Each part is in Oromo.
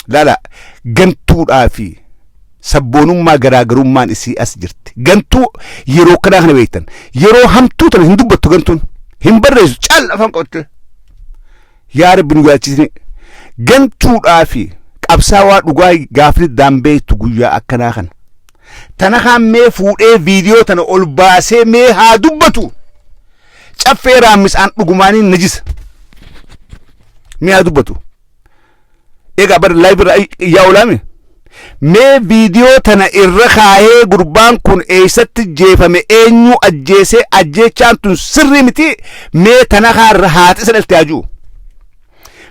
lala gantuudhaa fi sabboonummaa garaagarummaan isii as jirti gantuu yeroo kanaa kana beektan yeroo hamtuu tana hin dubbattu gantuun hin barreessu caal afaan qabattee yaa rabbi nu yaachisne gantuudhaa fi qabsaawaa dhugaa gaafni daambeektu guyyaa akkanaa kana tana kaan mee fuudhee viidiyoo tana ol baasee mee haa dubbatu Caffee raammisaan dhugumaanii najisa. Mi'aa dubbatu. Egaa bar live irra yaa olaame. Mee viidiyoo tana irra kaa'ee gurbaan kun eessatti jeefame eenyu ajjeesee ajjeechaan tun sirrii miti mee tana kaarra haati isa dhalte ajuu.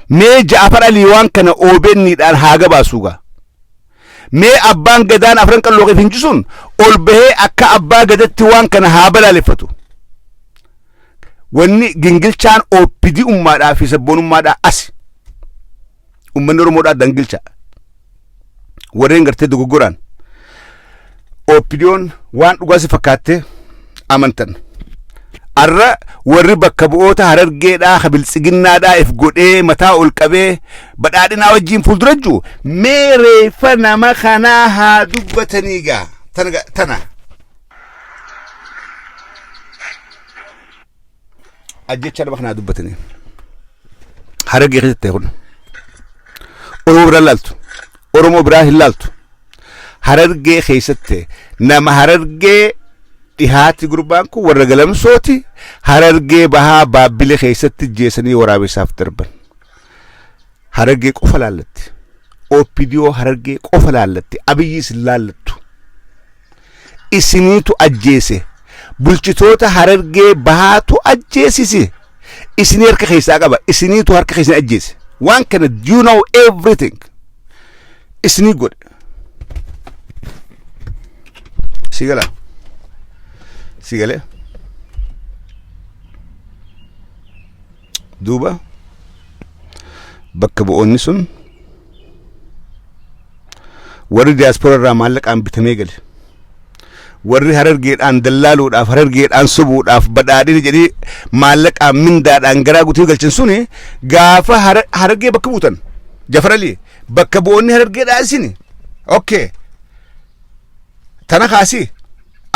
Mee ja'afar alii waan kana OBN dhaan haa gabaasuugaa. Mee abbaan gadaan afran qalloo kee fincisuun ol bahee akka abbaa gadatti waan kana haa balaaleffatu. Wanni gingilchaan OPD ummaadhaa fi sabboonummaadhaa asi. Ummanni Oromoodhaa dangilcha. Warreen gartee dogoggoraan OPDOn waan dhugaa si fakkaattee amantan. Arra warri bakka bu'oota harargeedhaa ha biltsiginnaadhaa if godhee mataa ol qabee badhaadhinaa wajjiin fuuldura jiru mee reeffa nama kanaa haa dubbatanii gaa tana. ajjechaa nama kanaa dubbatanii harargee keessatti ta'e kun oromoo biraa laaltu oromoo biraa hin laaltu harargee keessatti nama harargee dhihaati gurbaan kun warra galamsooti harargee bahaa baabbilee keessatti jeesanii waraabessaaf darban harargee qofa laallatti opidiyoo harargee qofa laallatti abiyyiis hin laallattu isiniitu ajjeese bulchitoota harargee bahaatu ajjeesise isinii harka keessaa qaba isiniitu harka keessan ajjeese waan kana you know everything isinii godhe si gala si galee Duuba bakka bu'oonni sun warri diyaaspooraa irraa maallaqaan bitamee gale warri harargeedhaan dallaaluudhaaf harargeedhaan sobuudhaaf badhaadhina jedhee maallaqaan mindaadhaan garaa guutuu galchan suni gaafa hara- harargee bakka buutan jafaralii bakka bu'oonni harargeedhaa isini okay tana kaasii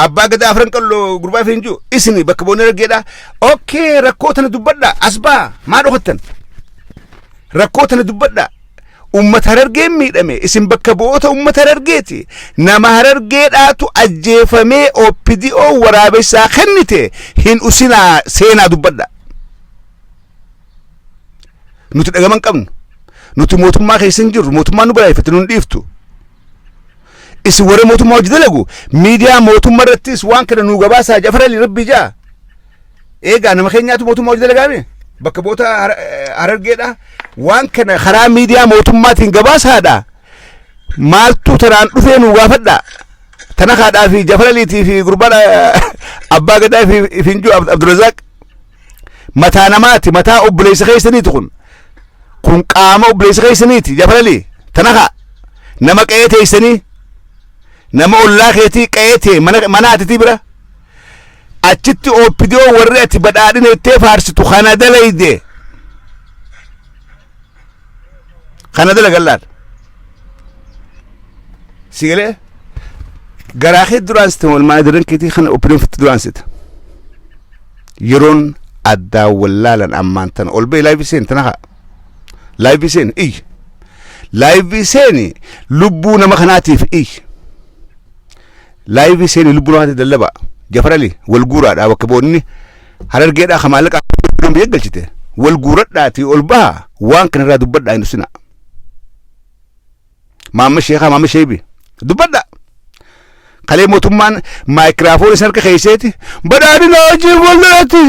abbaa gadaa afran qalloo gurbaa fi hinjuu isini bakka boonee raggeedha okkee rakkoo tana dubbadha as baa maa dhokattan rakkoo tana dubbadha ummata harargeen miidhame isin bakka bu'oota ummata harargeeti nama harargeedhaatu ajjeefamee opdo waraabessaa kennite hin usinaa seenaa dubbadha nuti dhagama hin qabnu nuti mootummaa keessa hin jirru mootummaan nu balaaleffate nu hin dhiiftu isin warra mootummaa hojii dalagu miidiyaa mootummaa irrattis waan kana nuu gabaasaa jafarali rabbii jaa eegaa nama keenyaatu mootummaa hojii dalagaame bakka boota Har- eh, harargeedha waan kana karaa miidiyaa mootummaatiin gabaasaadha maaltu tanaan dhufee nuu gaafadha tana kaadhaa fi jafaraliitii fi gurbaan eh, abbaa gadaa fi finjuu abdurazaaq mataa namaati mataa obboleessa keessaniiti kun kun qaama obboleessa keessaniiti jabalali tanaha nama qe'ee teessanii nama ollaa keetii qe'ee tee mana mana atitii bira achitti oopidiyoo warri ati badhaadhina ittee faarsitu kana dalayde kana dalagan laata si galee garaa kee duraan sita walmaa daran keetii kana opinion fitti duraan sita yeroon addaa wallaalan ammaan tana ol ba'e laayivii seeni tana haa laayivii seeni iyyi laayivii seeni lubbuu nama kanaatiif iyyi laayivii seeni lubbuu namaatiif dallaba jafarali wal guuraadha bakka boonni Harargeedhaa ka maallaqa kan biyya galchite wal guuradhaatii ol baha waan kanarraa dubbadhaa hin dhusina. Maamma sheekaa maamma sheebi dubbadhaa. Kalee mootummaan maayikiraafoon isin harka keesseeti badhaadhina hojii fuulduratti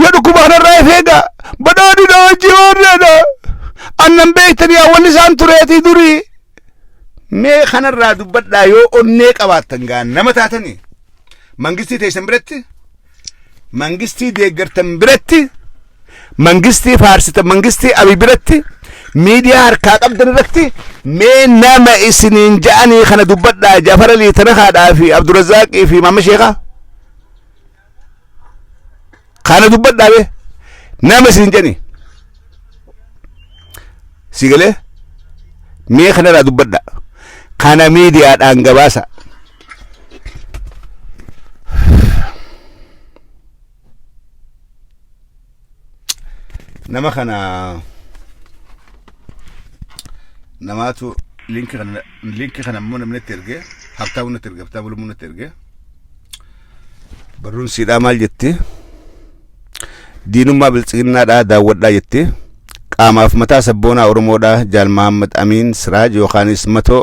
yoo dhukkuba kanarraa if eega badhaadhina hojii warreedha annan beektanii hawwanni isaan tureetii durii. Mee kanarraa dubbadhaa yoo onnee qabaattan gaa nama taatanii mangistii teessan biratti mangistii deeggartan biratti mangistii faarsitan mangistii abi biratti miidiyaa harkaa qabdan irratti mee nama isiniin ja'anii kana dubbadhaa jafara liitana haadhaa fi abdurazaaqii fi maama sheekaa kana dubbadhaa bee nama isiniin ja'anii si galee mee kanarraa dubbadhaa kana miidiyaadhaan gabaasa nama kana namaatu linki kana linki kana immoo namni itti erge habtaamuu natti erge habtaamuu lummuu natti erge barruun siidhaa maal jetti diinummaa biltsiginnaadhaa daawwadhaa jetti qaamaaf mataa sabboonaa oromoodhaa jaal mahammad amiin siraaj yookaanis matoo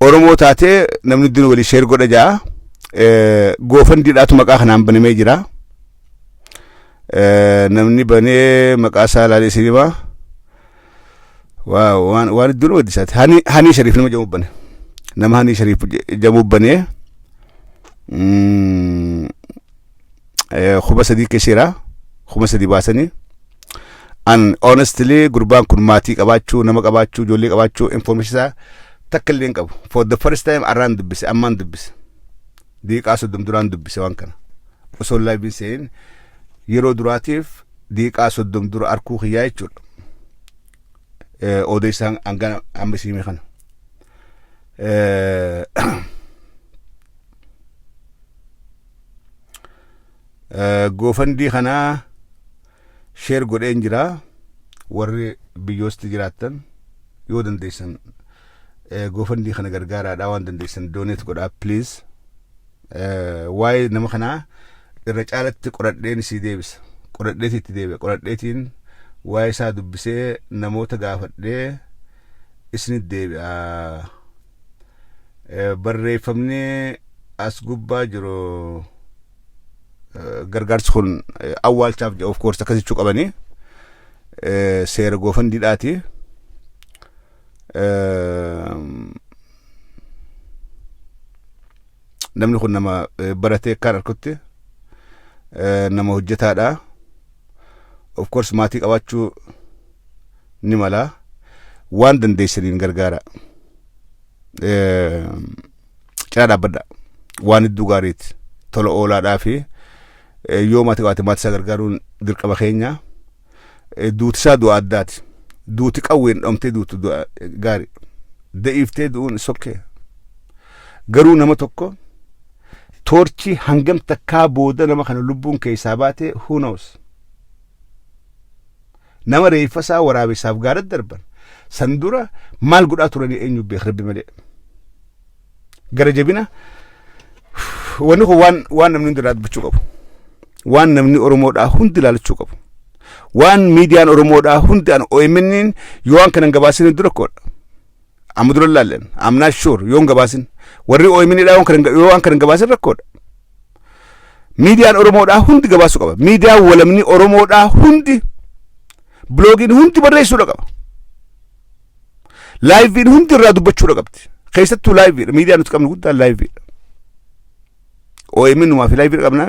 Oromoo taatee namni dura walii sheer godha jaa goofandiidhaatu maqaa kanaan banamee jira. Namni banee maqaa isaa ilaalee isin himaa. Waaw waan waan iddoo nama gaddisaati. Hani Hanii Shariif nama jamu bane. Nama Hanii Shariif jamu bane. eh, kuma sadii kesheera kuma sadii baasanii an honestly gurbaan kun maatii qabaachuu nama qabaachuu ijoollee qabaachuu information isaa takka illee hin qabu for the first time arraan dubbise ammaan dubbise diiqaa soddom duraan dubbise waan kana osoo laabiin seen yeroo duraatiif diiqaa soddom dura arkuu kiyyaa jechuudha Eh, odeessaan hangana amma isiimee kana Eh, Goofandii kana sheer godheen jira warri biyyoosti jiraattan yoo dandeessan goofandii kana gargaaraadha waan dandeessan dooneet godhaa pleez waa'ee nama kanaa irra caalatti qoradheen sii deebisa qoradheeti itti deebi'a qoradheetiin waa'ee isaa dubbisee namoota gaafadhee isinit deebi'a. Eh, barreeffamni as gubbaa jiru eh, gargaarsi kun eh, awwaalchaaf jedha of course akka jechuu qabanii eh, seera goofandiidhaati. Eh, namni kun nama eh, baratee akkaan arkutti eh, nama hojjetaadha. Of course maatii qabaachuu ni mala waan dandeessaniin gargaara cinaa dhaabbadha waan hedduu gaariiti tola oolaadhaa fi yoo maatii qabaate maatii isaa gargaaruun dirqama keenya duuti isaa du'a addaati duuti qawween dhomtee duutu du'a gaari da'iiftee du'uun sokkee garuu nama tokko toorchi hangam takkaa booda nama kana lubbuun keessaa baate who knows Nama reeffa isaa waraabessaaf gaara darban san dura maal godhaa turanii eenyu beeka rabbi malee. Gara jabina wanni kun waan waan namni hundi dubbachuu qabu. Waan namni Oromoodhaa hundi ilaalachuu qabu. Waan miidiyaan Oromoodhaa hundi an OMN yoo waan kanan gabaasanii dura koodha. Amma dura ilaalleen amnaa shuur yoon gabaasin warri OMN dhaa yoo waan kana hin gabaasin rakkoodha. Miidiyaan Oromoodhaa hundi gabaasuu qaba. Miidiyaan walamni Oromoodhaa hundi biloogiin hundi barreessuudha qaba. Laayiviin hundi irraa dubbachuudha qabdi. Keessattuu laayiviidha. Miidiyaan nuti qabnu guddaan laayiviidha. OMN numaa fi laayiviidha qabnaa.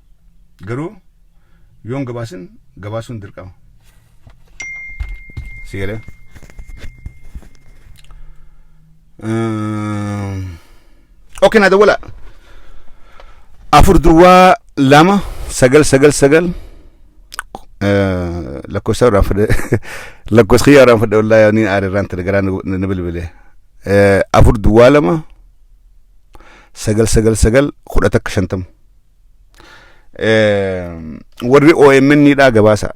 Garuu yoo hin gabaasin gabaasuun dirqama. Si galee? Oke na dawwala. Afur duwwaa lama sagal sagal sagal lakkoofsa irraan fudhe lakkoofsa kiyyaa irraan fudhe wallaahi ani aara irraan ture garaa na bilbile. Afur duwwaa lama sagal sagal sagal kudha takka shantama. warri OMN dhaa gabaasa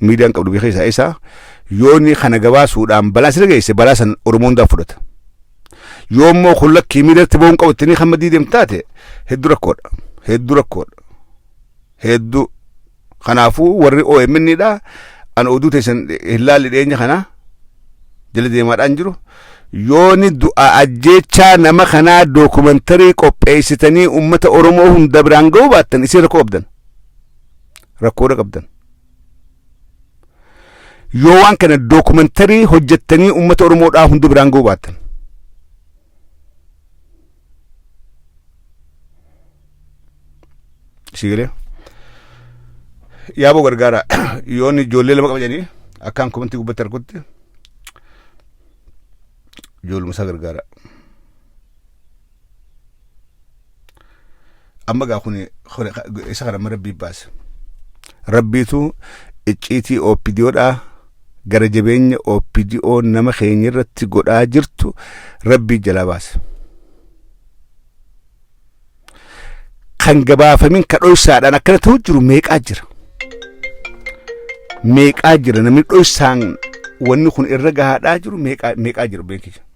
miidiyaan qabdu biyya keessaa isa yooni kana gabaasuudhaan balaa sirra geesse balaa san Oromoo hundaa fudhata. Yoo immoo kun lakkii miidiyatti ba'uun qabu itti ni kan maddii deemtu taate hedduu rakkoodha. Hedduu rakkoodha. Hedduu Kanaafuu warri OMN dha an oduu teessan hin laalle dhiyeenya kana jala deemaadhaan jiru. Yooni du'a ajjeechaa nama kanaa dookumantarii qopheessitanii uummata Oromoo hunda biraan ga'uu baattan isin rakkoo qabdan. Rakkoodha qabdan. Yoo waan kana dookumantarii hojjettanii uummata Oromoodhaa hunda biraan ga'uu baattan. si galee yaaboo gargaara yoon ijoollee lama qaba jedhanii akkaan komantii gubbatti arkutti ijoolluma isaa gargaara Amma gaa kun isa kana amma rabbii baasa. Rabbiitu icciitii OPDOdhaa gara jabeenya OPDO nama keenya irratti godhaa jirtu rabbii jalaa baasa. Kan gabaafamin ka dhoysaadhaan akkana ta'u jiru meeqaa jira. Meeqaa jira namni dhoysaan wanni kun irra gahaadhaa jiru meeqaa jira beekija.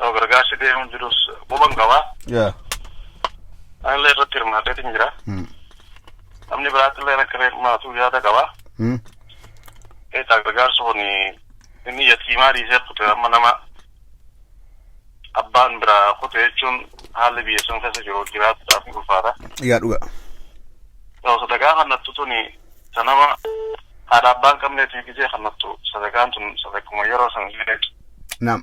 Yoo gargaarsi deemuun jirus quban qaba. Yaa. Anillee irratti hirmaateetiin jira. Hmm. Namni biraattillee akka hirmaatu yaada qaba. Hmm. Eetaa gargaarsi kun inni yatiimaa dhiisee kute amma nama abbaan biraa kute jechuun haalli biyya sun keessa jiru jiraachuudhaaf ni ulfaata. Yaa dhuga. Yoo sadaqaa kannattu tuni isa nama haadha abbaan qabneetii gisee kannattu sadaqaan tun sadaquma yeroo san illee Naam.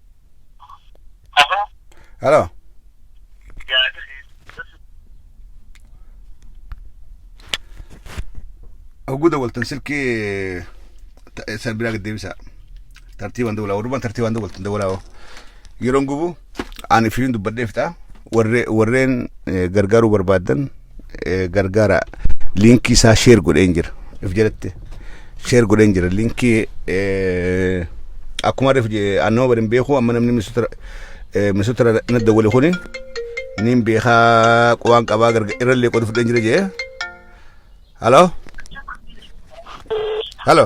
Halo. Oguda waltan silki san biraa gad deebisa. Tartiibaan dawlaa warrumaan tartiibaan dawaltan dawlaa yeroon gubu ani firiin dubbadhee fixaa warreen gargaaruu barbaadan eh, gargaara liinkii isaa sheer godheen jira if jedhatte sheer godheen jira liinkii eh, akkuma rif annoo bari hin beeku amma namni misutara eh, misutara na dawwale kuni niin beekaa qubaan qabaa garga irrallee qodu fudheen jira jee halo halo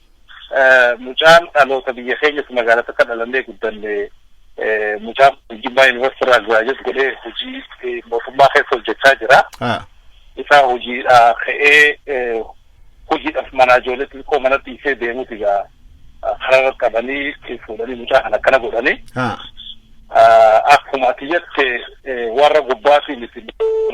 Mucaan dhaloota biyya keenyas magaalaa takka dhalannee guddanne mucaan kun Jimmaa Yuunivarsiitii irraa giraajuweet godhee hojii mootummaa keessa hojjechaa jira. Isaa hojiidhaa ka'ee hojiidhaaf manaa ijoollee xixiqqoo mana dhiisee deemuuti egaa karaa irratti qabanii fuudhanii mucaa kana akkana godhanii. Akkuma ati jette warra gubbaatii miti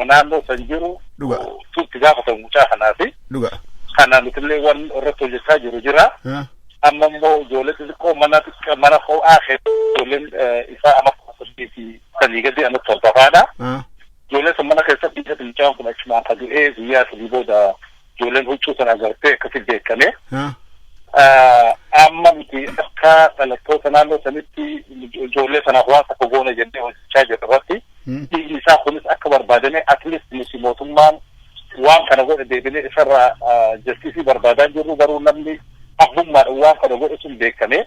naannoo san jiru Dhuga. tuutti gaafatamu mucaa kanaafi. Dhuga. Kana nutillee waan irratti hojjechaa jiru jira. Ah. Amma immoo ijoollee xixiqqoo mana xiqqaa mana ho'aa keessa ijoolleen eh, isaa amma kuma saddeet fi sadii gadi amma torbafaadha. Ah. Ijoollee sun mana keessatti dhiisatti mucaan kun achumaan ka du'ee guyyaa sadii booda ijoolleen huccuu sana agartee akkasi beekame. Amma nuti akka dhalattoota naannoo sanitti ijoollee sanaaf waan tokko goona jennee hojjechaa jirru irratti dhiigni isaa kunis akka barbaadame atleast nuti mootummaan waan kana godhe deebinee isarraa jastiisii barbaadaa jirru garuu namni abbummaadhaan waan kana godhe sun beekame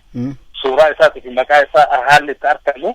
suuraa isaatii fi maqaa isaa haalli itti argamu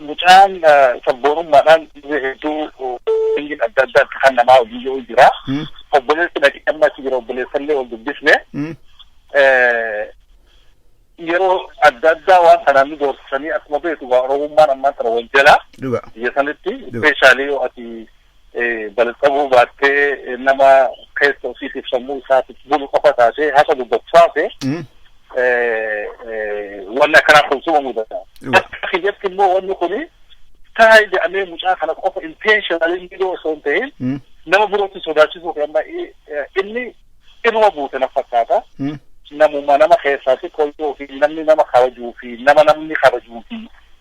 Mucaan sabboonummaadhaan dhibee hedduu biyyiin adda addaatti kan namaa hojii yoo jira. Obboleessi dhaqee amma achi jira obboleessallee wal dubbisne. Yeroo adda addaa waan kanaan nu doorsisanii akkuma beeku gaa oromummaan ammaan tana wal jala. Dhuga. Biyya sanitti ispeeshaalii yoo ati balxabuu baattee nama keessa ofiitiif sammuu isaatiif bulu qofa taatee haqa dubbatu taate wanni akkanaa kun suma mudata. Akka kiyyatti immoo wanni kun taa'e jedhamee mucaa kana qofa intentionally miidhoo osoo hin ta'in nama birootti sodaachisuu fi amma inni Dhibuma buute na fakkaata. Namuma nama keessaa xiqqoo yoo ofii namni nama kabajuu fi nama namni kabajuu fi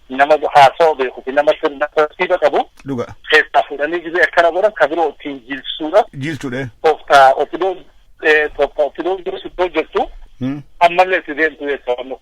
nama haasawa beeku fi nama sirna tartiiba qabu Dhuga. keessaa fuudhanii gizee akkana godhan ka biroo ittiin jilsuudha. Jiilchudhe. Tooftaa ofidoon tooftaa ofidoon jiru itti hojjettu ammallee itti deemtu jecha waan nuuf.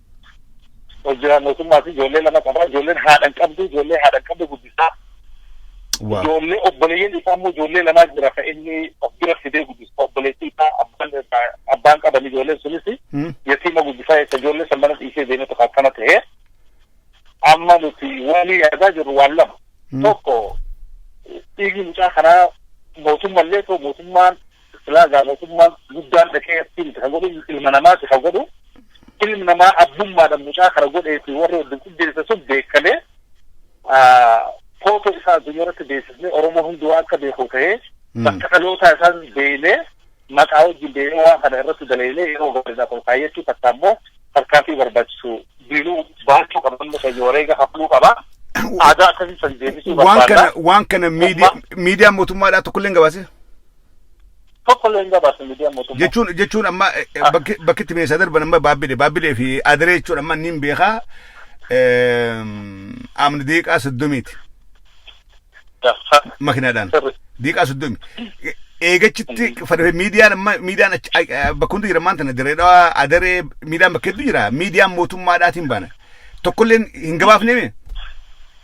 hojjetaan mootummaa fi ijoollee lama qaba. Ijoolleen haadha hin qabdu, ijoollee haadha hin qabdu guddisaa. Waa. Ijoollee obboleeyyan isaa immoo ijoollee lamaa jira kan inni of bira fidee guddisa. Obboleettii isaa abbaan irraa abbaan qaban ijoolleen sunis Hmm. yatiima guddisaa jecha ijoollee san mana dhiisee deemee tokko akkana ta'e. Amma nuti waan yaadaa jirru waan lama. Hmm. Tokko dhiigni mucaa kanaa mootummallee ta'u mootummaan Silaa egaa mootummaan guddaan dhaqee achi miti kan godhu ilma namaati kan godhu. Ilmi namaa abbummaadhaan mucaa kana godhee fi warri wajjin qindeesse sun beekamee footoo isaa addunyaa irratti beeksisnee Oromoon hundi waan akka beeku ta'ee bakka dhalootaa isaan deemee maqaa wajjin deemee waan kana irratti daleelee yeroo gaariidhaaf ol kaayyachuu takka ammoo tarkaanfii barbaachisu diinuu baachuu qaba namni keenya wareega hafnuu qaba. Aadaa akkasii san deebisuu Waan barbaanna. kana waan kana miidiyaa miidiyaa mootummaadhaa tokkollee hin gabaasee? Tokko illee hin gabaasne miidiyaan mootummaa. Jechuun jechuun amma eh, eh, Ah. bakki bakki itti meeshaa darban amma baabbilee baabbilee fi adiree jechuun amma inni hin beekaa ehm, amni diiqaa soddomiiti Gaffa. makinaadhaan Sirri. diiqaa soddomi. E- Eegachitti fadhafee miidiyaan amma miidiyaan achi- a- a- bakka hundi jira maanta na dirree dhawaa adaree miidiyaan bakka hedduu jira miidiyaan mootummaadhaatiin baana tokkolleen hin gabaafnee mee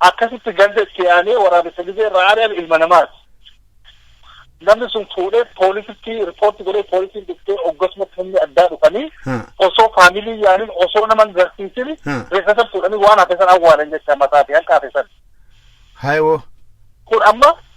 Akkasitti ganda itti aanee waraabessa gizee irraa ari'ame ilma namaati. Namni sun fuudhee poolisitti ripoorti godhee poolisiin dhuftee oggasumatti humni addaa dhufanii Ha. osoo faamilii yaanin osoo nama hin garsiisin Ha. reeffa san fuudhanii waan hafe san awwaalan jecha mataa fi hanqaa fi san. Haayoo. Kun amma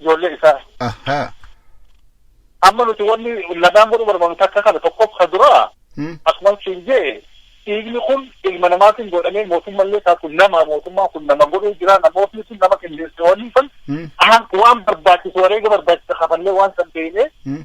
ijoollee isaa. Ahaa. Amma nuti wanni lamaan godhuu barbaannu takka kana tokkoffaa dura Hmm. akkuma siin jee dhiigni kun ilma namaatiin godhamee mootummallee taatu nama mootummaa kun nama godhuu jira namootni sun nama qindeesse waliin san Hmm. waan barbaachisu wareega barbaachisa kafallee waan san beeknee Hmm.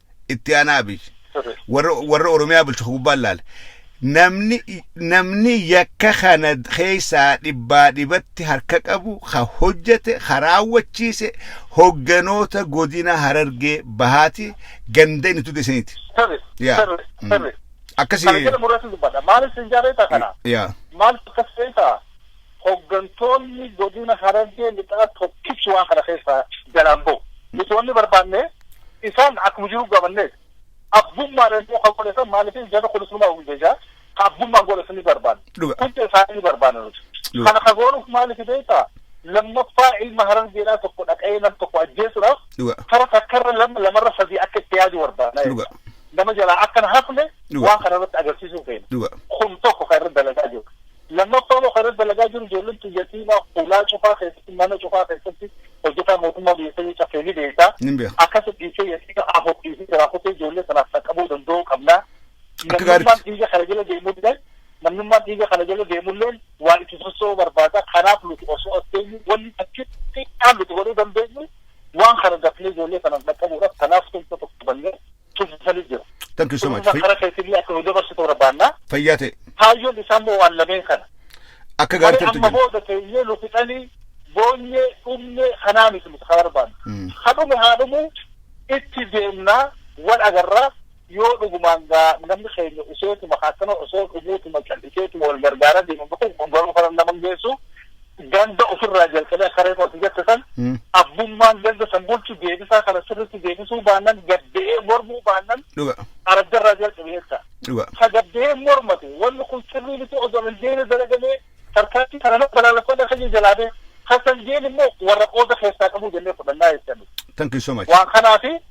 itti aanaa abiy warra warra oromiyaa bulchu ka gubbaan laale namni namni yakka kana keessaa dhibbaa dhibatti harka qabu ka hojjete ka raawwachiise hogganoota godina harargee bahaati ganda inni tude isiniiti Sirri, Yaa. sirri, Mm. sirri. Kana akkasii jedhamu irratti dubbadha. Maaliif sin jaarree ta'a kana? yaa Maaliif akkas ta'e ta'a? Hoggantoonni godina Harargee lixaa tokkichi waan kana keessaa jalaa hin bahu. Nuti wanni barbaanne isaan akkuma jiru gamanneeti. Abbummaadhaan immoo kan godhe san maaliif jarri kunis numaa wajjin jechaa ka abbummaan godhe san ni barbaanna. Dhuga. Hunda isaanii ni barbaanna nuti. Dhuga. Kana ka goonuuf maaliif beektaa? Lammaffaa ilma Harargeedhaa tokko dhaqee nam tokko ajjeesuudhaaf Dhuga. tara takkarra lama lamarra sadii akka itti yaadu barbaanna. Dhuga. Nama jalaa akka hin hafne Dhuga. waan kana irratti agarsiisuu feena. Dhuga. Kun tokko kan irra dalagaa jiru. Lammaffaa immoo kan irra dalagaa jiru ijoolleen tun yatiima hulaa cufaa keessatti mana cufaa keessatti hojjetaa mootummaa biyya sanii caffee ni beekta. Nin beeka. Akkasi dhiisee yatiima afur dhiisee jiraa kutee ijoollee sanaaf dhaqqabuu danda'uu qabna. Akka gaaritti. Namnummaan dhiiga kana jala deemulleen namnummaan dhiiga kana jala deemulleen waa itti sossoo'uu barbaada. Kanaaf nuti osoo as teenyu wanni takki xiqqaan nuti godhuu dandeenyu waan kana dafnee ijoollee sanaaf dhaqqabuudhaaf kanaaf tumsa tokko bannee itti fufanii jiru. Thank you so much. Kunuunsa kara keetillee akka nu dabarsitu barbaanna. Fayyaa ta'e. Kaayyoon isaa immoo waan lameen kana. Akka Malee gaarteertu amma jira. booda teenyee nu fixanii boonyee dhumne kanaa miti nuti kan barbaannu. Mm. Ha dhume haa dhumu itti deemnaa wal agarraa yoo dhugumaan gaa namni keenya useetuma akkana osoo dhumuutuma calliseetuma wal gargaaraa deemu kun kun garuu kana nama hin geessu ganda ofirraa jalqabee akka reefu ati jette san Mm. abbummaan ganda san bulchu deebisaa kana sirriitti deebisuu baannan gadda'ee mormuu baannan Dhuga. araddarraa jalqabe jecha. Dhuga. Ka gadda'ee mormate wanni kun sirrii miti osoo hin deemne dalagamee tarkaanfii kana nama balaaleffata kan jalaa bee kan san jeen immoo warra qooda keessaa qabu jennee fudhannaa jechan. Thank you so much. Waan kanaafi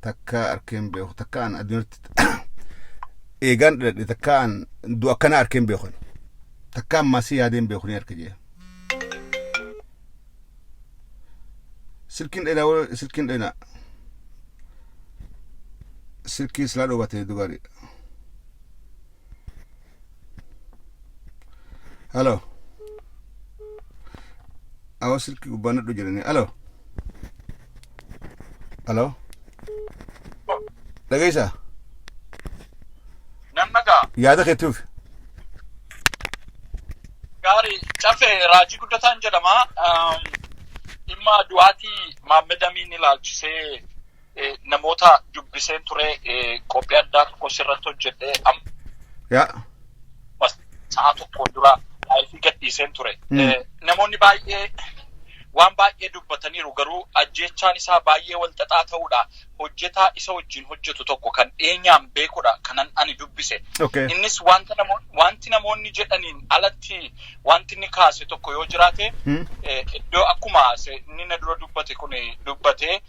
takkaa arkee hin beeku takkaa an adunyatti eegaan dhaladhe takkaa an du'a akkana arkee hin beeku takkaa an maasii yaadee hin beeku ni arke jee silkiin dheeraa wal- silkiin dheeraa silkii silaa dhoobatee dubari halo awa silkii gubbaan nadhu jirani halo Hello? Dhageessaa? Nan dhagaa. Yaada keettuuf. Gaarii cafe raajii guddataan jedhama. Um, Dhimma du'aatii Maammed Amiin ilaalchisee eh, namoota dubbiseen ture eh, qophii addaa tokko sirratti hojjedhee amma Yaa. Dhuma sa'a tokkoon dura laayivii gadhiiseen ture. Namoonni baay'ee waan baay'ee dubbataniiru garuu ajjeechaan isaa baay'ee wal xaxaa ta'uudha. Hojjetaa isa wajjin hojjetu tokko kan dhiyeenyaan beekudha kanan ani dubbise. Innis wanti namoonni jedhaniin alatti wanti inni kaase tokko yoo jiraate iddoo akkuma inni na dura dubbate kun dubbate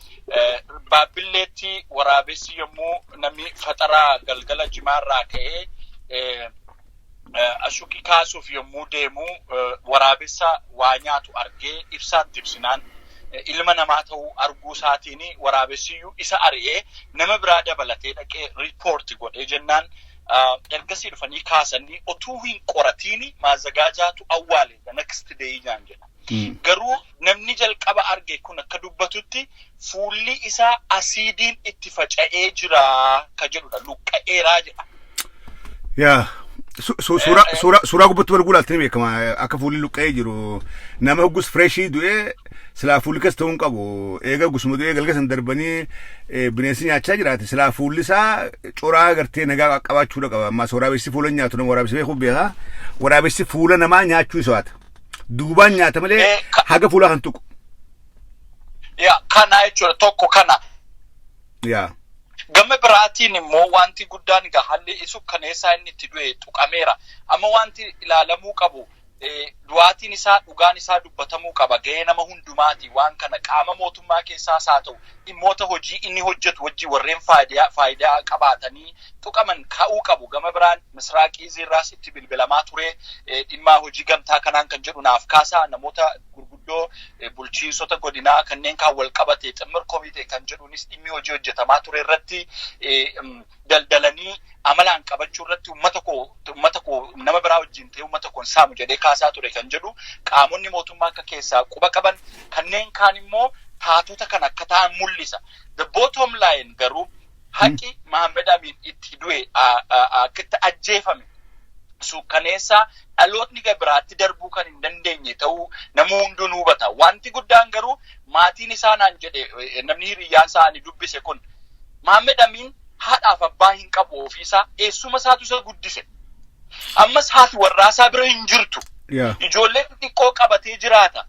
baabbilleetti waraabessi yommuu namni faxaraa galgala jimaarraa ka'ee ashuqi kaasuuf yommuu deemu waraabessa waa nyaatu argee ibsaatti ibsinaan ilma namaa ta'uu arguu isaatiin waraabessiyyuu isa ari'ee nama biraa dabalatee dhaqee riippoorti godhee jennaan ergasii dhufanii kaasanii otuu hin qoratiin maazagaajaatu awwaale the next day naan jedha. Garuu namni jalqaba arge kun akka dubbatutti fuulli isaa asiidiin itti faca'ee jira ka jedhudha. Luqqa'eeraa jedha. Yaa su- su- suuraa suuraa suuraa gubbatti wal guulaalti ni beekama akka fuulli luqqa'ee jiru nama hoggus fireeshii du'ee silaa fuulli keessa ta'uu hin qabu eega hoggusuma du'ee galga san darbanii eh, bineensi nyaachaa jiraate silaa fuulli isaa coraa gartee nagaa qabaachuudha qaba ammaa waraabessi fuula hin nyaatu nama waraabessi beekuu beekaa waraabessi fuula namaa nyaachuu isaati. Duubaan nyaata malee Eh, ka- haga fuulaa kan tuqu. Yaa kana jechuudha tokko kana. Yaa. Gama biraatiin immoo wanti guddaan egaa haalli isu kaneessaa inni itti du'e tuqameera. Amma wanti ilaalamuu qabu eh, du'aatiin isaa dhugaan isaa dubbatamuu qaba. Gahee nama hundumaati waan kana qaama mootummaa keessaas haa ta'u dhimmoota hojii inni hojjetu wajjin warreen faayidaa faayidaa qabaatanii tuqaman ka'uu qabu. Gama biraan Misraaq Iizii irraas itti bilbilamaa ture. Dhimmaa hojii gamtaa kanaan kan jedhu naaf kaasaa namoota gurguddoo bulchiinsota godinaa kanneen kaan wal qabate ximmir komitee kan jedhuunis dhimmi hojii hojjetamaa ture irratti daldalanii amalaan qabachuu irratti ummata koo ummata koo nama biraa wajjin ta'ee ummata koon saamu jedhee kaasaa ture kan jedhu qaamonni mootummaa akka keessaa quba qaban kanneen kaan immoo taatota kan akka ta'an mul'isa. The bottom line garuu Haqi Mahammed Amiin itti du'e akkitti ajjeefame suukkaneessaa dhalootni gabiraatti darbuu kan hin dandeenye ta'uu namuu hunduu ni hubata. Wanti guddaan garuu maatiin isaa naan jedhe namni hiriyyaan isaa ani dubbise kun Mahammed Amiin haadhaaf abbaa hin qabu ofiisaa eessuma isaatu isa guddise. Ammas haati warraasaa bira hin jirtu. Ijoollee xixiqqoo qabatee jiraata.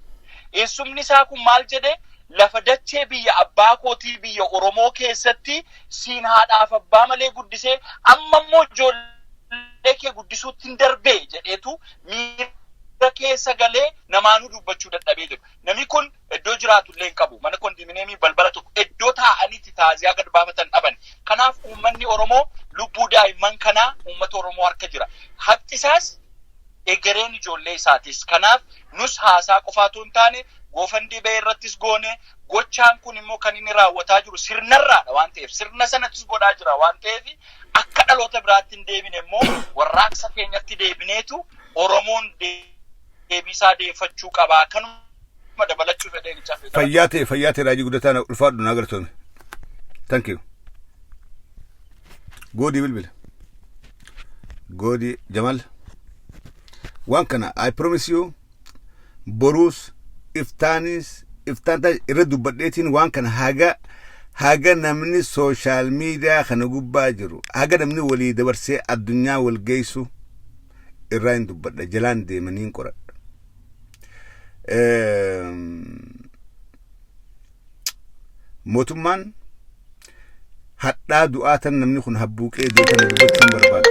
Eessumni isaa kun maal jedhee lafa dachee biyya abbaa kootii biyya Oromoo keessatti siin haadhaaf abbaa malee guddisee amma immoo ijoollee kee guddisuuttin darbee jedheetu miira keessa galee namaanuu dubbachuu dadhabee jedhu. Namni kun iddoo jiraatu illee hin qabu. Mana kondiimineemii balbala tokko iddoo taa'anii itti taaziyaa gad baafatan dhaban. Kanaaf uummanni Oromoo lubbuu daa'imman kanaa uummata Oromoo harka jira. Haqxisaas egereen ijoollee isaatis. Kanaaf Nus haasaa qofaa utuu hin taane GoFundBay irrattis goone. Gochaan kun immoo kan inni raawwataa jiru sirnarraadha waan ta'eef sirna sanattis godhaa jira waan ta'eef akka dhaloota biraatti hin deebine immoo warraaqsa keenyatti deebineetu Oromoon deebiisaa deeffachuu qabaa kanuma dabalachuu fedheen hin cafe. Fayyaa ta'e fayyaa ta'e raajii guddataa na ulfaadhu naa galatoome. Thank you. Goodii bilbila. Goodii Jamal. waan kana I promise you boruus iftaanis iftaan ta'a irra dubbadheetiin waan kana haga haga namni sooshaal miidiyaa kana gubbaa jiru haga namni walii dabarsee addunyaa wal geessu irraa hin dubbadha jalaan deemanii hin qoradha. Mootummaan hadhaa du'aa tan namni kun habbuuqee du'aa tan dubbachuu hin barbaadu.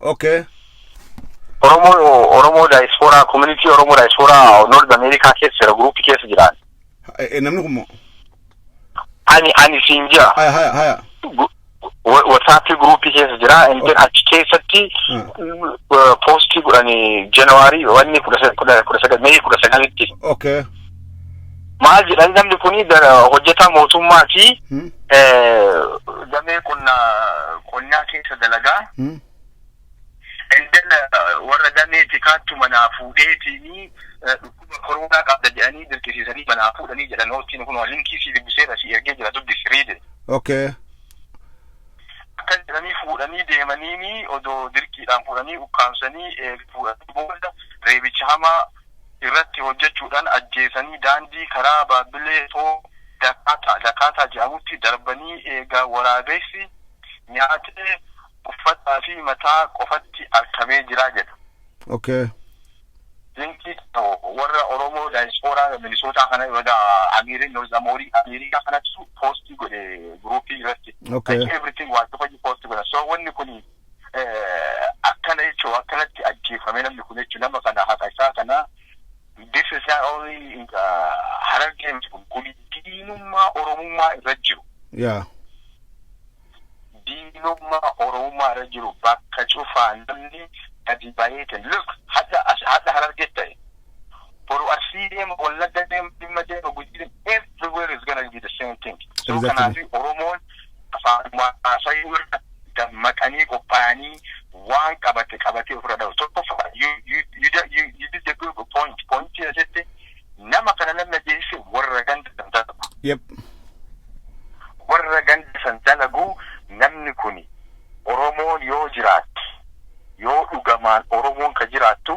Okay. Oromoo Oromoo daayispooraa koominitii Oromoo daayispooraa Noord Ameerikaa keessa jira guruupii keessa jiraan. Eh, eh, Namni kun moo? Ani ani siin jira. Haya haya haya. Wasaappii guruupii keessa jira. Intin achi keessatti poostii godhani Januwaarii wanni kudha sagal mee kudha sagalitti. Okay. maal jedhan namni kun hojjetaa mootummaati Hmm. eh, damee qonnaa qonnaa keessa dalagaa Hmm. indala warra damee tikaattu manaa fuudheetiini eh, dhukkuba koronaa qabda jedhanii dirqisiisanii manaa fuudhanii jedhan hoottiin kun linkii sii dubbiseera si ergee jira dubbisi riide Okay. akkas jedhanii fuudhanii deemaniini odoo dirqiidhaan fuudhanii ukkaamsanii eh, fuudhanii booda reebicha hamaa irratti hojjechuudhaan ajjeesanii daandii karaa Baabbilee Too Dakaataa, Dakaataa jedhamutti darbanii eega waraabessi nyaatee uffataa fi mataa qofatti arkamee jira jedha. Ok. Dinqii Xaho warra Oromoo Daayispooraa Minisootaa kana baga Amiirin North Amoorii Ameerikaa kanattu poostii godhe group irratti. Ok. Like everything waa cufayyuu poostii godha. So wanni kuni akkana jechuun akkanatti ajjeefame namni kun jechuun nama kana haqa isaa kana bifa isaa oolii harargee miti kun kun diinummaa oromummaa irra jiru. Yaa. Diinummaa oromummaa irra jiru bakka cufaa namni gadi baheetiin look hadha hadha harargee ta'e. boru Arsii deema, Wallagga deema, Jimma deema, Gujii deema, everywhere is gonna be the same thing. So Exactly. kanaafi Oromoon afaanuma haasayuu irra dammaqanii qophaa'anii waan qabate qabatee ofirra dhahu. Tokkoffaa you, you, you, don't- you, you did the good point. Pointii asitti nama kana namni ajjeese warra ganda kan dalagu. Yep. warra ganda san dalagu namni kuni Oromoon yoo jiraatte yoo dhugamaan Oromoon ka jiraattu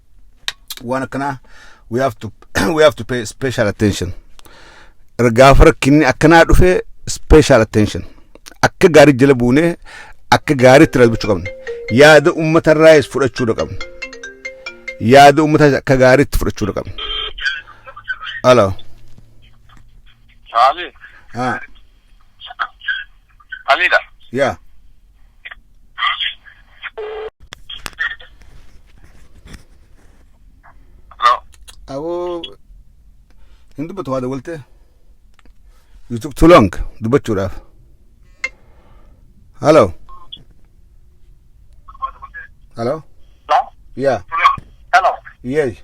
waan akkanaa we have to we have to pay special attention gaafa rakkinni akkanaa dhufe special attention akka gaarii jala buunee akka gaariitti rabbachuu qabna yaada uummatarraayis fudhachuudha qabna yaada uummataa akka gaariitti fudhachuudha qabna. Alo. Saali. Ah. Alida. Yeah. Hello. Awoo hin dubbatu waa dawwalte. You took too long dubbachuudhaaf. Hello. Hello. Hello. Yeah. Hello. Yes.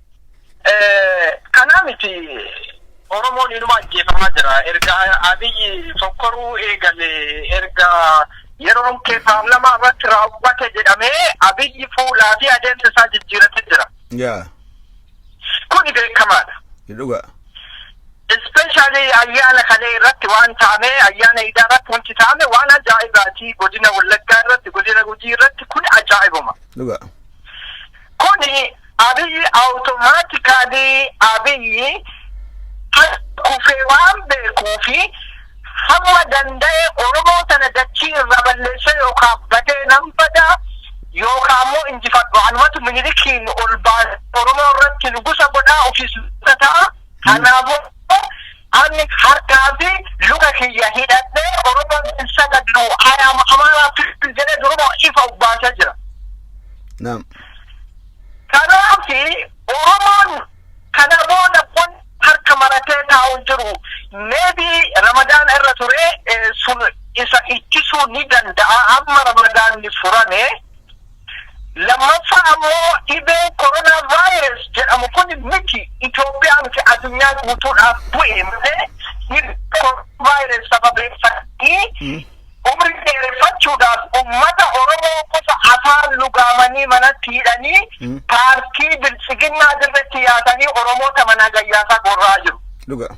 Kanaa miti Oromoon inuma ajjeefamaa jira. Erga Abiyyi fokkoruu eegale, erga yeroon kee paarlamaa irratti raawwate jedhamee Abiyyi fuulaa fi adeemsa isaa jijjiiratee jira. Yaa. Kuni beekamaadha. Dhugaa. Ispeeshaalii ayyaana kalee irratti waan taame, ayyaana idaa irratti wanti taame waan ajaa'ibaati. Godina Wallaggaa irratti, godina Gujii irratti kun ajaa'ibuma. Dhugaa. Kuni Abiyyi automatically Abiyyi harka kufee waan beekuufi hamma danda'e Oromoo tana dachii irraa balleessee yookaa badee nan bada yookaa ammoo injifadhu anumatu Minilikiin ol baasee Oromoo irratti nugusa godhaa ofiis nugusa ta'a kanaafuu Ani harkaa fi luka kiyya hidhadhee Oromoon hin sagaddu I am Amara people jedhee duruma ifa of baasee jira. Naam. Kanaaf Oromoon kana booda kun harka maratee taa'u hin jiru. Maybe Ramadaan irra ture eh, sun isa ittisuu ni danda'a. Amma Ramadaanni furame Lammaffaa ammoo dhibee coronavirus jedhamu kun miti Itoophiyaa miti adunyaa guutuudhaaf bu'e malee dhibee coronavirus sababeeffatanii umrii dheereffachuudhaaf ummata Oromoo qofa afaan lugaamanii manatti hidhanii paartii biltsiginnaa dirretti yaasanii Oromoota manaa gayyaasaa gorra'aa jiru. Dhugaa.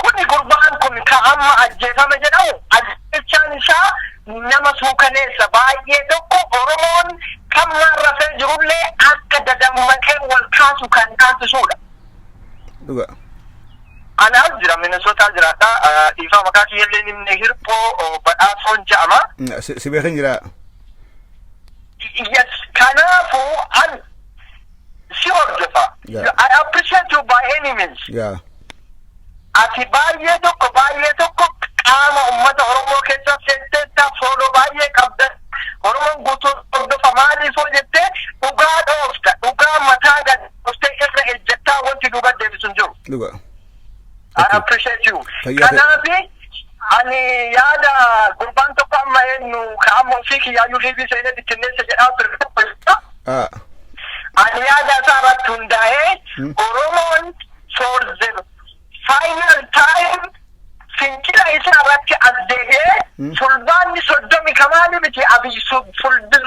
Kuni gurbaan kun ka amma ajjeefame jedhamu ajjeechaan isaa nama suukaneessa baay'ee tokko Oromoon kammaan rafee jirullee akka dadammaqee wal kaasu kan taasisuudha. Dhugaa. Ana as jira Minnesota jiraadha. Dhiifama maqaa kiyyallee nimne hirphoo badhaasoon ja'ama. Si beekan jiraa. Yes, kanaafuu an si hordofa. Yeah. I appreciate you by any means. yaa Ati baay'ee tokko baay'ee tokko qaama uummata Oromoo keessa seenteetta fooloo baay'ee qabda. Oromoon guutuu hordofa maaliif hoo jettee dhugaa dhoofta. Dhugaa mataa gad dhooftee irra ejjettaa wanti duuba deebisu hin jiru. dhuga I Okay. appreciate you. Fayyaa ta'e. Kanaafi ani yaada gurbaan tokko amma eenyu ka amma ofii kiyyaayyuu liivii seenee bittinneessa jedhaa ture tokko jira. Ah, Ani yaada isaa irratti hundaa'ee Hmm. Oromoon for the final time fincila isaa irratti as deebi'ee Hmm. fulbaanni soddomi kamaali miti abiyyi sul- fulbin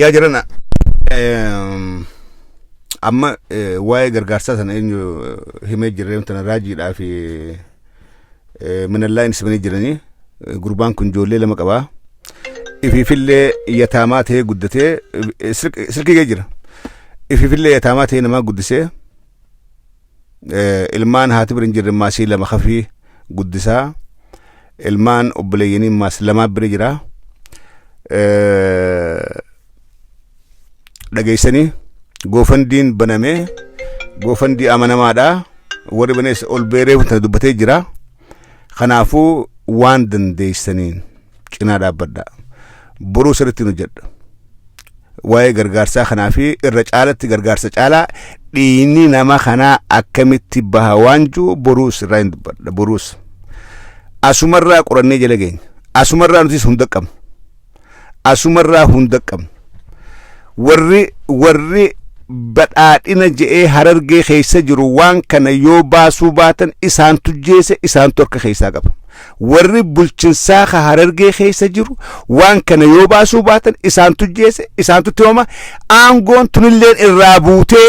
yaa jirana amma waa'ee gargaarsaa sana eenyu himee jirree tana raajiidhaa fi minallaa inni simanii jiranii gurbaan kun ijoollee lama qabaa ifiifillee yataamaa ta'ee guddatee silkii jira ifiifillee yataamaa ta'ee namaa guddisee ilmaan haati bira hin jirre maasii lama kafii guddisaa ilmaan obboleeyyanii maas lamaa bira jira dhageessanii goofandiin banamee goofandii amanamaadha warri banees ol beereef tana dubbatee jira. Kanaafuu waan dandeessaniin cinaa dhaabbadhaa. Boruu sirriitti hojjedha. Waa'ee gargaarsaa kanaa fi irra caalatti gargaarsa caalaa dhiigni nama kanaa akkamitti baha waan jiru boruus irraa hin dubbadha. Boruus asumarraa qorannee jala geenya. Asumarraa nutis hunda qabna. asumarraa hunda qabnu warri warri badhaadhina je'ee harargee keessa jiru waan kana yoo baasuu baatan isaantu jeese isaantu harka keessaa qaba warri bulchinsaa ka harargee keessa jiru waan kana yoo baasuu baatan isaantu jeese isaantu timama aangoon tunilleen irraa buutee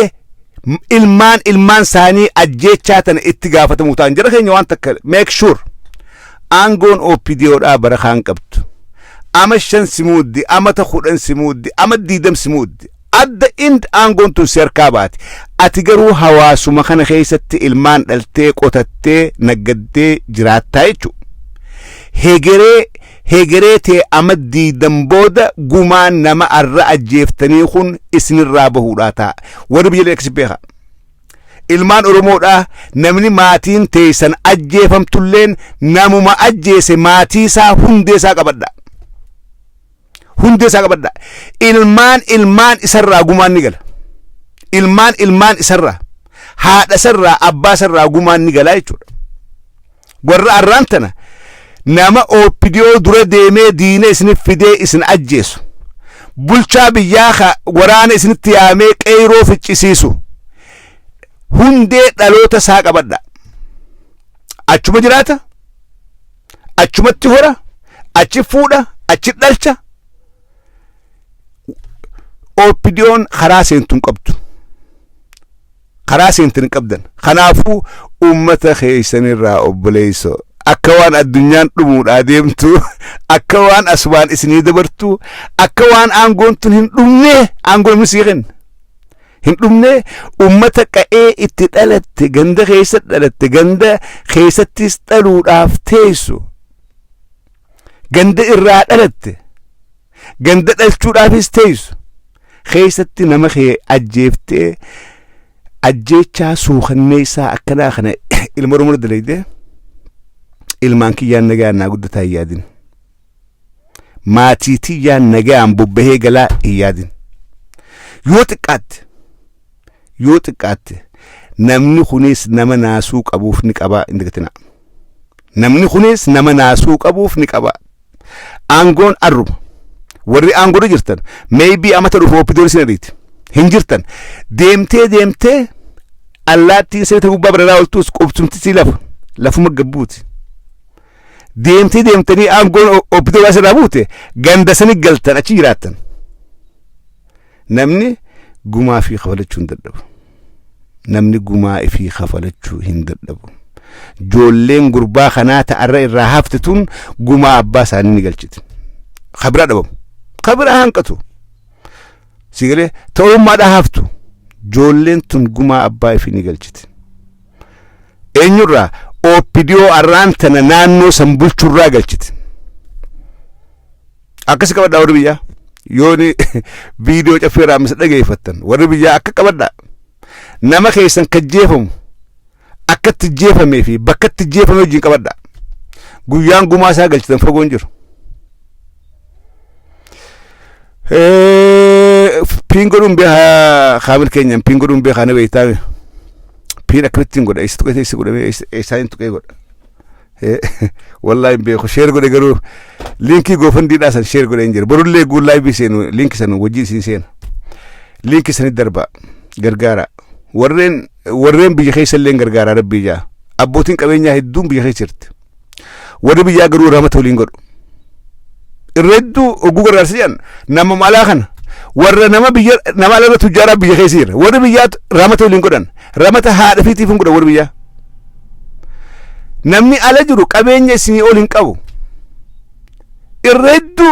m- ilmaan ilmaan isaanii ajjeechaa tana itti gaafatamuu ta'an jara keenya waan takka make sure Aangoon OPDOdhaa bara kaan qabdu. Ama shan si muuddi, amata kudhan si muuddi, ama diidam si muuddi. At the end aangoon tun si harkaa baati. Ati garuu hawaasuma kana keessatti ilmaan dhaltee, qotattee, naggaddee jiraattaa jechuudha. Hegeree hegeree tee ama diidam booda gumaan nama arra ajjeeftanii kun isinirraa bahuudhaa ta'a. Warri biyya leekkisi beekaa. Ilmaan Oromoodhaa namni maatiin teeysan ajjeefamtulleen namuma ajjeese maatii isaa hundee isaa qabadhaa. Hundee isaa qabadhaa. Ilmaan ilmaan isarraa gumaan ni gala. Ilmaan ilmaan isarraa haadha isarraa abbaa isarraa gumaan ni galaa jechuudha. Warra arraan tana nama OPDO dura deemee diina isinif fidee isin ajjeesu, bulchaa biyyaa ka waraana isinitti yaamee qeeyroo ficcisiisu hundee dhaloota isaa qabadhaa. Achuma jiraata, achumatti hora, achi fuudha, achi dhalcha. OPDOn karaa seentu hin qabdu. karaa seentan hin qabdan kanaafuu ummata keessanirraa obboleesso akka waan addunyaan dhumuudhaa deemtu akka waan asumaan isinii dabartu akka waan aangoon tun hin dhumne aangoo namni sii kenna hin dhumne ummata qa'ee itti dhalatte ganda keessa dhalatte ganda keessattis dhaluudhaaf teessu ganda irraa dhalatte Ganda dhalchuudhaafis teessu. Keessatti nama kee ajjeeftee ajjeechaa suukanneessaa akkanaa kana ilma Oromoo dalaydee ilmaan kiyyaan nagaan naa guddataa hin yaadin. Maatii tiyyaan nagaan bobbahee galaa hin yaadin. Yoo xiqqaatte yoo xiqqaatte namni kunis nama naasuu qabuuf ni qabaa hin dagatinaa. Namni kunis nama naasuu qabuuf ni qabaa. Aangoon arruma. Warri aangoorra jirtan maybe amata dhufu oppidoon isin ariiti. Hin jirtan. Deemtee deemtee allaattiin siree gubbaa bararaa oltuus qubsumti si lafa. Lafuma gabbuuti. Deemtee deemtanii aangoon oppidoo waan sirraa buute ganda sani galtan achi jiraattan. Namni gumaa ifii kafalachuu hin dadhabu. Namni gumaa ifii kafalachuu hin dadhabu. Joolleen gurbaa kanaa ta'arra irraa hafte tun gumaa abbaa isaanii ni galchiti. Ka biraa dhabamu. Ka biraa hanqatu. Si galee ta'ummaadhaa haftu. Joolleen tun gumaa abbaa ifii ni galchiti. Eenyurraa OPDO arraan tana naannoo san bulchurraa galchiti. Akkasi qabadhaa warri biyyaa. Yooni viidiyoo caffee raamisa dhageeffattan warri biyyaa akka qabadhaa. Nama keessan kan jeefamu akkatti jeefamee fi bakkatti jeefame wajjin qabadhaa. Guyyaan gumaa isaa galchitan fagoon jiru. Piin godhuun beekaa kaamil keenyaan piin godhuun beekaa na beektaame. Piin akkamittiin godha eessa tuqee eessa godhamee eessaan tuqee godha. Wallaahi hin beeku sheer godhe garuu liinkii goofandii dhaa san sheer godhe hin jira borullee guun laayivii seenu liinki san wajjin isin seena liinki sanit darbaa gargaaraa warreen warreen biyya keessa illee gargaaraa rabbii jaa abbootiin qabeenyaa hedduun biyya keessa jirti warri biyyaa garuu rahmata waliin godhu irra hedduu oguu gargaarsa jedhan nama malaa kana warra nama biyya nama ala irra tujjaaraa biyya keessa jira warri biyyaa ramata waliin godhan ramata haadha fi tiifin godhan warri biyyaa namni ala jiru qabeenya isinii ol hin qabu irra hedduu